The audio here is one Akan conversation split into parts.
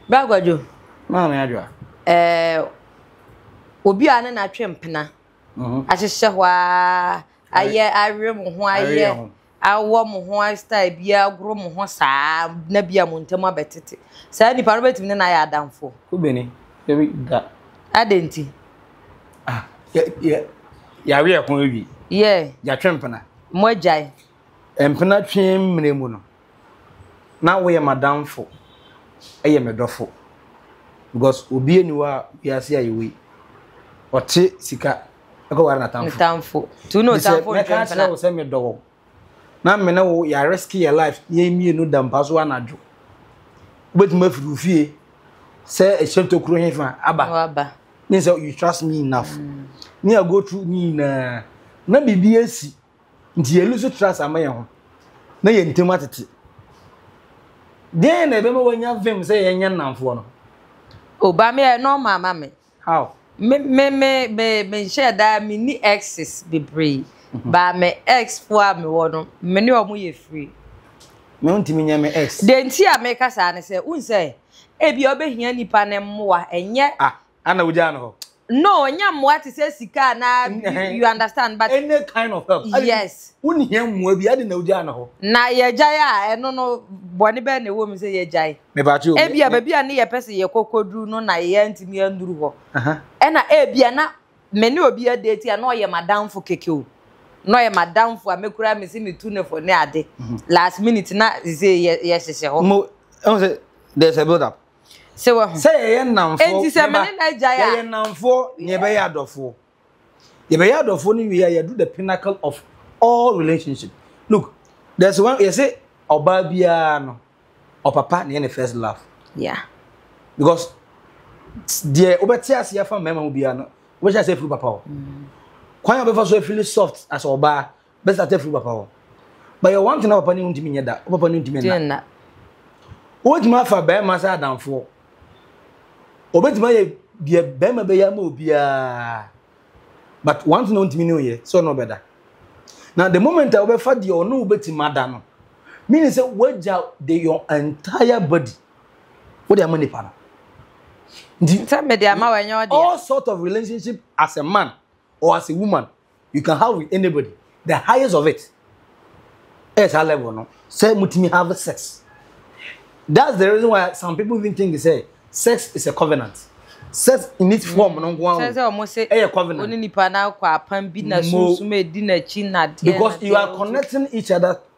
Bra Kwadwo. Maame Adwoa. Ɛɛ obi a ne natwe mpena mhm. ahyehyɛ hɔ a ayɛ awe mo ho ayɛ awɔ mo ho style bi agoro mo ho saa na bi a mo ntam abɛtete saa nipa no bɛtumi ne na ayɛ adamfo wobɛni ɛbi da adɛn nti ah, yɛawe ɛho awi yɛ yɛatwe mpena mo agyae mpena twe mmerɛ mu no na woyɛ m'adamfo yɛ me dɔfo because obi ani hɔ a wiase a yɛwɔ yi ɔte sika ɛkɔ ware n'atamfo n'atamfo tu na ɔtamfo ntwe mpena kyerɛ wo sɛ medɔ wɔ na me ne wo yɛ risk yɛ life yɛn mmienu da mpa so anadwo wobɛtumi afiri wo fie sɛ ɛhyɛ tokuro hefa aba ne sɛ you trust me enough mm. me I go through ne nyinaa na biribi asi nti yɛn ani so trust ama yɛn ho na yɛn ntam atete deɛn na ɛbɛma wanya vim sɛ yɛnyɛ nnamfoɔ no oba me yɛ normal ma me how me me me me me nhyɛ daa me ni exes bebree mhm. ba me ex fo a me wɔ no me ne ɔmo yɛ free me ho ntumi nyɛ me ex de nti a meka saa ne sɛ wohu sɛ ebi ɔbɛhia nipa ne mmoa ɛnyɛ ah. Ana wogyaa no hɔ? No, ɔnya mmoa te sɛ sika anaa bi, you understand but. Any kind of help. Yes. Wonhia mmoa bi, adɛn na wogyaa no hɔ? Na yɛgyae a, ɛno no bɔne bɛn na ɛwɔ mu sɛ yɛgyae? Mebate o. Ebia baabi a ne yɛpɛ sɛ yɛkɔ kɔduru no na yɛantumi anduru hɔ. Ɛna ebia na me ne obi adeti a na ɔyɛ m'adamfo kɛkɛ o. Na ɔyɛ m'adamfo a me koraa mese metu ne fo ne ade. Last minute na sese yɛhyehyɛ hɔ. Mo, ɛho sɛ there's a build up. sɛ wahu sɛ yɛyɛ nnamfoɔ enti sɛ me ne no agyae a yɛyɛ nnamfoɔ na yɛbɛyɛ adɔfoɔ yɛbɛyɛ adɔfoɔ no wie a yɛdu the pinnacle of all relationship look there's one yɛsɛ ɔbaa biara no ɔpapa na yɛ ne first love yeah because deɛ wobɛte ase afa mmarima mu biara no wobɛhyɛ ase afiri papa hɔ mm. kwan a wobɛfa so afili soft as ɔbaa bɛ start afiri papa hɔ but yɛ one thing na papa ne ntumi nyɛ da wo papa ne ntumi nna wobɛtumi afa bɛrima sɛ adamfoɔ obɛtumi ayɛ deɛ bɛrima bɛyɛ ama obiara but one thing na ntumi ne oyɛ sɛ ɔno ɔbɛda na the moment a wobɛfa deɛ ɔno wobɛtumi ada no mini sɛ woagya de your entire body wode ama nipa no nti sɛ mede ama wɔ ɛnyɛ ɔdeɛ all sort of relationship as a man or as a woman you can have with anybody the highest of it ɛyɛ saa level no sɛ mutumi have sex that's the reason why some people even think say sex is a covenant sex in its form no nko ara ɛyɛ covenant ɔne nipa na akɔ apam bi na sunsun edi n'akyi na deɛ because you are connecting each other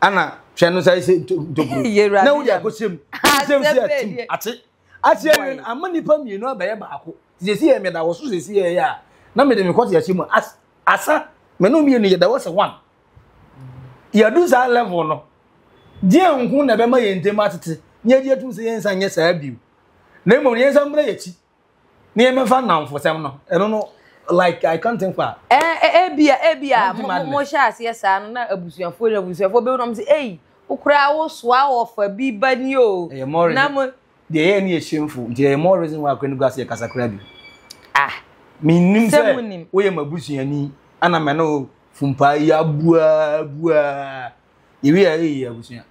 ana hwɛ no sɛ sɛ ntokuro na wode akɔhyɛ mu nsɛm si atim ate ase awie no ama nnipa mmienu abɛyɛ baako sɛsi yɛ meda wɔ so sɛsi yɛ yɛ a na mede mekɔ te ahyɛ mu asa me no mmienu yɛda wɔ sɛ one yɛdu saa level no deɛ nko na ɛbɛma yɛn ntam atete na yɛgye atum sɛ yɛnsa nyɛ saa bio na mmom yɛnsa mmra yɛkyi ne yɛn mɛfa nnamfosɛm no ɛno no like I can't think fa. Ɛɛ ebia ebia mo mo hyɛ aseɛ saa no na abusuafoɔ na abusuafoɔ bɛwura mo sɛ eyi okura wosoa ɔfa bi ba ni o. Ɛyɛ mɔri na mo. Deɛ ɛyɛ ni yɛ shameful nti ɛyɛ mɔri reason why akora ne gu aseɛ kasa kura bi. Ah. Mi nim sɛ woyɛ ma busuani ana mɛ no fumpaa yi abua abua yɛwi a ɛyɛ yie abusua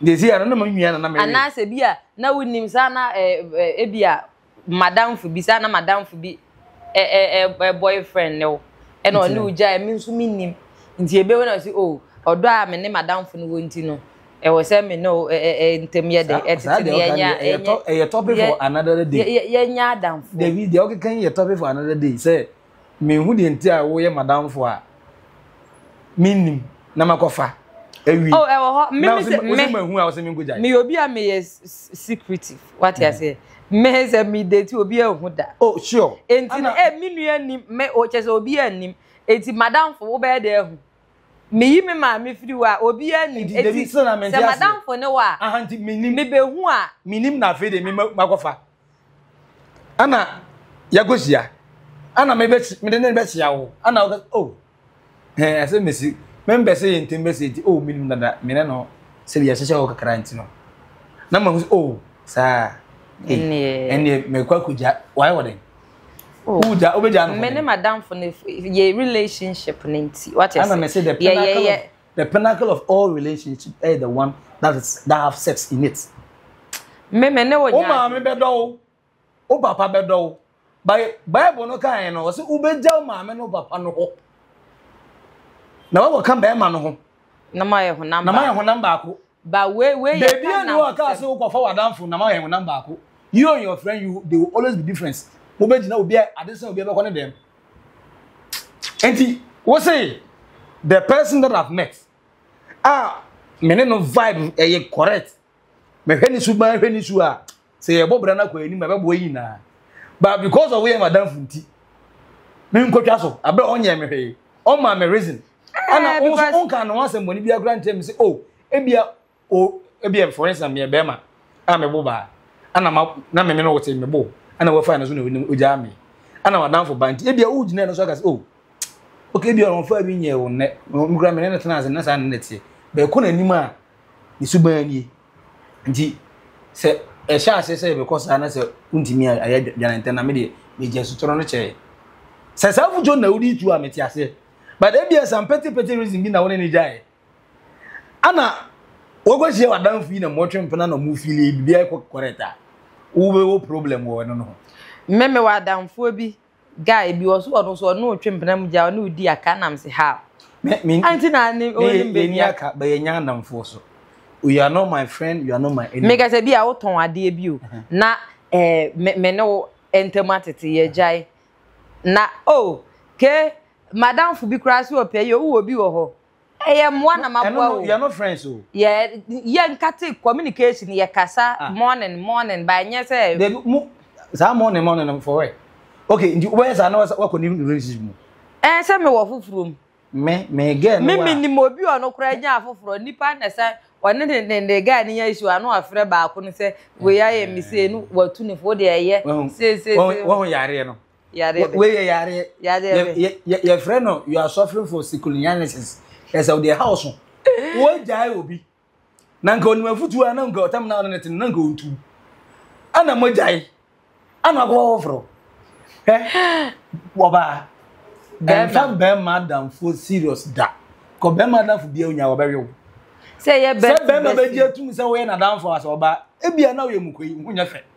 nti ɛsi a no na ma nua na na mɛyɛ anaasɛ bi a na wonim saa na ebi a madamfo bi saa na madamfo bi ɛ boyfriend ne wo ɛna ɔne wo gyae me nso mennim nti ebe na ɔsi o ɔdɔ a me ne madamfo no wɔ nti no ɛwɔ sɛ me ne o ntɛm yɛ dɛ ɛtete ne yɛnya ɛyɛ topic for another day yɛnya adamfo dabi deɛ ɔkeka yi yɛ topic for another day sɛ menhu deɛ nti a woyɛ madamfo a mennim na makɔfa awi oh ɛwɔ hɔ me me sɛ me mahu a wɔsɛ menkɔgyae meyɛ obi a meyɛ secretive wate hmm. aseɛ me sɛ me date obi ahu da oh sure enti no eh me nua nim me o kyɛ sɛ obi anim enti madamfo wobɛyɛ dɛ ahu meyi me maame firi hɔ a obiara nim eti sɛ madamfo ne hɔ a mebɛhu a menim na afei de makɔfa Ɛna yɛakɔhyia. Ɛna mebɛsi mede ne bɛhyia wo. Ɛna ɔka oh ɛɛ ɛsɛ mesi membɛ sɛ yɛn ntɛm bɛsi nti oh menim dada me ne no sɛ yɛhyehyɛ hɔ kakra nti no na mahu sɛ oh saa ɛneɛ mekɔ akɔgya wae wɔ den oh. wogya wobɛgya no me ne madamfo no yɛ relationship no nti wate sɛ yɛyɛ The pinnacle of all relationships ɛyɛ the one that is that have sex in it. Me me ne wo nya. O maame bɛ dɔ o, o papa bɛ dɔ o. Bible no kan yɛn no, ɔsɛ wobɛgya o maame no papa no hɔ. Na wɔwɔ ka bɛrima no ho. Na ma yɛ honam baako. Na ma yɛ honam baako. But wei wei yɛ Baby and you aka say wokɔ fa wadanfo na ma yɛn honam baako. You and your friend you they will always be difference. Mo bɛ gyina obi a ade sɛ obi bɛkɔ ne dɛm. Enti wo say the person that I've met ah me ne no vibe ɛyɛ correct. Me hwɛ ne su ban hwɛ ne su a sɛ yɛbɔ bra no akɔ anim ɛbɛboa yi nyinaa but because of yɛ madamfo nti menkɔtwa so aberɛ ɔnyɛ me hwee ɔma me reason ana eh, wo nso wonka ne ho asɛm bɔne biara kora nkyerɛ me sɛ o oh, ebia o ebia for instance meyɛ bɛrima a mebo baa ana ma na meme no wote mebo ana wafa no so na ogyaa me ana madamfo ba nti ebia wogyina no so aka sɛ o oh, okay ebia ɔmfa bi nyɛ wo nnɛ mekora me ne no tena ase na saa ne ne teɛ bɛɛkɔ n'anim a ne suban nie nti sɛ ɛhyɛ aseɛ sɛ yɛbɛkɔ saa na sɛ wontumi a ayɛ dwane ntɛm na me deɛ megya asutɔrɔ no kyɛɛ sɛ saa fudwo na wode tu a mete aseɛ but ebia some petty petty reason bi na wo ne ne gyaeɛ ana wɔkɔhyia w'adamfo yi na mɔtwe mpena na mofili biribiara kɔ correct a wobɛwɔ problem wɔ ɛno no ho mmeme wɔ adamfoɔ bi Guy bi wɔ so ɔno so ɔne otwe mpena mu gya ɔne odi aka na mse ha. Anti na ne onim baby aka. Ba yɛ nya anamfo so. You are not my friend, you are not my enemy. Me kasa bi a wo ton adeɛ bi o. Na eh me ne wo entamu atete yɛ gyae. Na oh ke madamfo bi kura se ɔpɛ yi o wo wɔ bi wɔ hɔ. ɛyɛ mmoa na ma boa o. yɛ no friends o. yɛ yɛ nkate communication yɛ kasa ah. morning morning ba nyɛ sɛ. de mu saa morning morning no for where okay nti wobɛyɛ saa na wakɔ ne relationship mu. ɛn eh, sɛ me wɔ foforɔ mu. me me girl no wa. me nim obi ɔno koraa nya afoforɔ nipa na sɛ ɔne ne ne ne guy ne nya issue ano afrɛ baako no sɛ wei ayɛ me sei no watu ne fo deɛ ɛyɛ sei sei sei. wɔn wɔn yareɛ no. Yareɛ bɛ. Wei yɛ yareɛ. Yareɛ bɛ. Yɛ yɛ yɛfrɛ no you are suffering for sikuliniasis. Ɛsɛ o deɛ ha o so. Wogyae obi. Na nka onim afutuo a na nka ɔtam na ɔne ne tene na nka ontu. Ana mogyae. Ana ɔkɔ wɔforo. Hɛ. Wɔbaa. Ɛnfa bɛrima adamfo serious da. Kɔ bɛrima adamfo bia onya wɔbɛwe wo. Sɛ yɛ bɛrima bɛgye atum sɛ woyɛ n'adamfo asɛ ɔbaa. Ebia na woyɛ mukoyi ho nyɛ fɛ.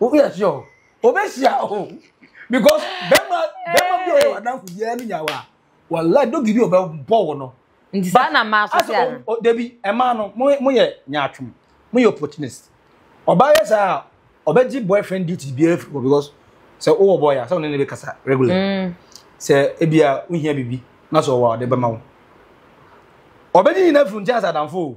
o yɛ sure o obe hyia o because bɛma bɛma bi ɔyɛ wadanfo bi ɛyɛ no nyawa wala dogi bi ɔbɛ bɔ wɔ no. nti saa na mmaa so te ano. o debi ɛmaa no mo mo yɛ nyaatwom mo yɛ opportunist ɔbaa yɛ saa a ɔbɛ gye boyfriend duties bi afiri hɔ because sɛ o wɔ boy a sɛ ɔne ne bɛ kasa regular mm. sɛ ebi a o hia bibi na sɛ ɔwɔ a ɔde bɛma wo ɔbɛ gye nyina firi nkyɛn sɛ adanfo o.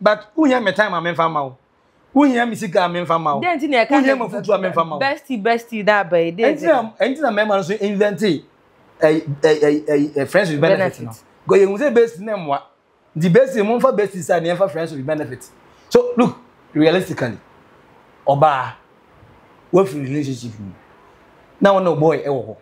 but wohia me time a memfa ma wo wohia me sika a memfa ma wo wohia me foto a memfa ma wo bestie bestie na aba yi de ɛnti na ɛnti na mɛma no so invente ɛyi ɛyi ɛyi friends with benefit no because yɛn sɛ bestie na mmoa nti bestie mo nfa bestie sa ne yɛnfa friends with benefit so look realistically ɔbaa wafiri relationship mu na wɔn na ɔbɔɔ ɛwɔ hɔ.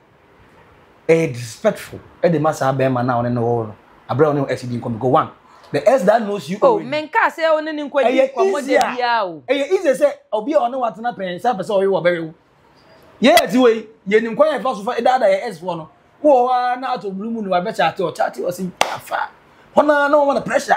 Ɛyɛ disrespectful de ma saa bɛrima no a ɔne no wɔ no abere a ɔne ɛsi di nkɔmɔ go one the ex that knows you already. Oh menka sɛ ɔne ne nkɔ di nkɔmɔ de bia o. Ɛyɛ easy sɛ obi a ɔne watena pɛn sɛ apɛ sɛ ɔwe wɔbɛwe wo. Yɛ ɛti wɔ yi yɛ nim kwan yɛ fa so fa ɛdaada yɛ ex foɔ no wɔ hɔ ara na ato bulu mu no wabɛkyɛ ate ɔkyɛ ate ɔsi afa hɔ na na wɔn na pressure.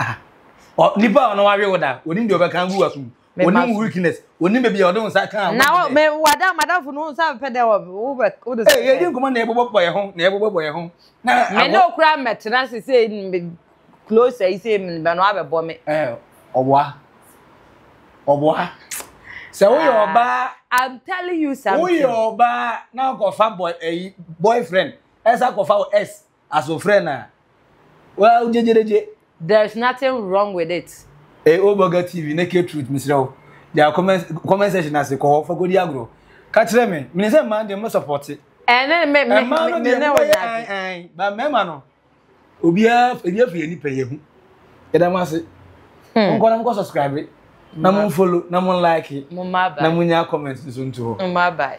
ah nipa a ɔno wawe wo da onim deɛ ɔbɛka agu wasom onim weakness onim baabi a ɔde wo nsa ka na me wada madamfo no nsa bɛpɛ dɛ wobɛ wode sɛ yɛdi nkɔmmɔ na yɛbobɔ bɔ yɛ ho na yɛbobɔ bɔ yɛ ho na me ne okura mmɛtena se sɛ close ayi sɛ mebɛ no abɛbɔ me ɔboa ɔboa sɛ woyɛ ah, ɔbaa i'm telling you something woyɛ ɔbaa na akɔfa boy ayi boyfriend ɛsɛ akɔfa wo s Aso frɛ na. Wa o gyegyeregye. There's nothing wrong with it. Ey o Burger TV naked truth mesrɛ wo gyaa comment comment section no ase kɔ hɔ fa kɔdi agorɔ ka kyerɛ me menim sɛ mmaa deɛ mo sɔpɔte ɛne eh, me me mmaa no deɛ mo bɛyɛ an an ba mmarima no obiara ebi afiri yɛn nipa yɛ ho yɛda mo ase hmm. nkɔ na mo kɔ subscribe na mo follow na mo like na mo nya comment nso nto hɔ.